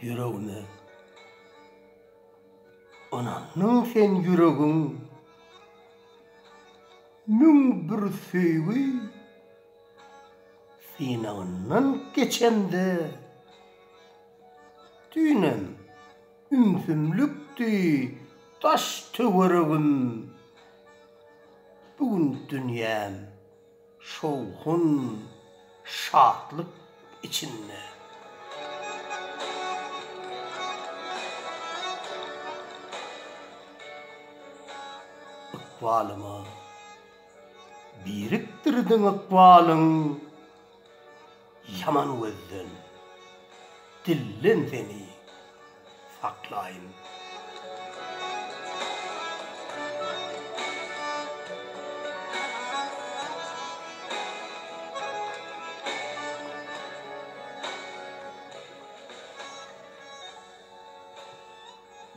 Ýüregine ynandyň sen ýüregiň Müň bir söýgi synagyndan geçende, Düýnem ümsümlikdi daş-töweregim, Bu gün dünýäm şowhun, şatlyk içinde. Ykbalyma birikdirdiň ykbalyň ýaman gözden, dilden seni. saklaýyn.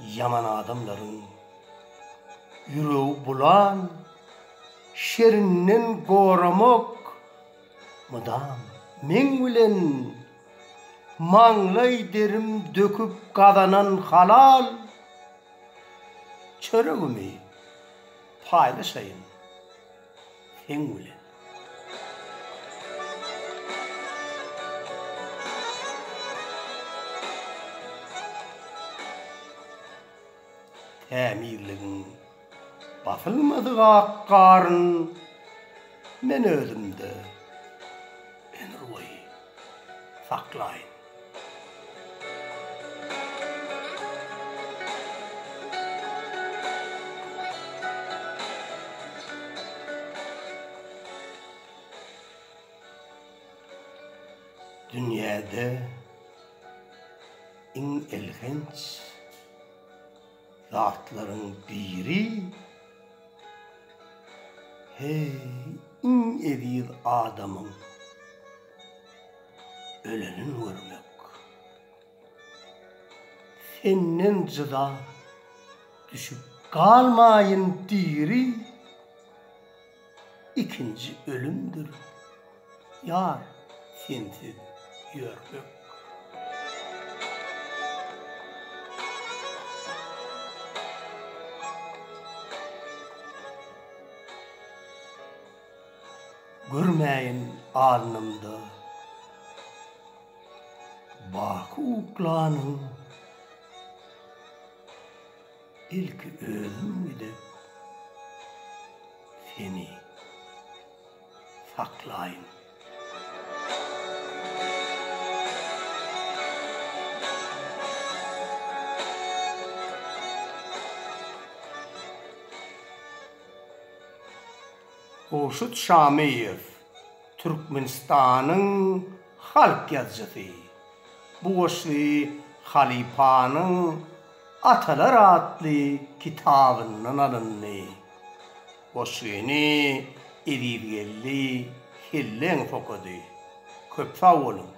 Ýaman adamlaryň ýüregi bulan şerinden goramak mydam meň bilen Maňlaý derim döküp gazanan halal çöregimi paýlaşaýyn seň bilen. Tämizligiň. Basylmadyk ak garyn men özümde ömürboýy saklaýyn. Dünýäde iň elhenç. zatlaryň biri, heý, iň eziz adamyň ölenin görmek. Senden jyda düşüp galmaýyn diri. ikinji ölümdir Ýar sensiz ýörmek. Görmäýin alnymda baky uklanyň Ilki özüm gidip seni saklaýyn. Gowşut Şamyýew, Türkmenistanyň halk ýazyjysy. Bu goşgy halypanyň Atalar atly kitabyndan alyndy. Goşgyny Ezizgeldi Helleňow okady. Köp sag boluň!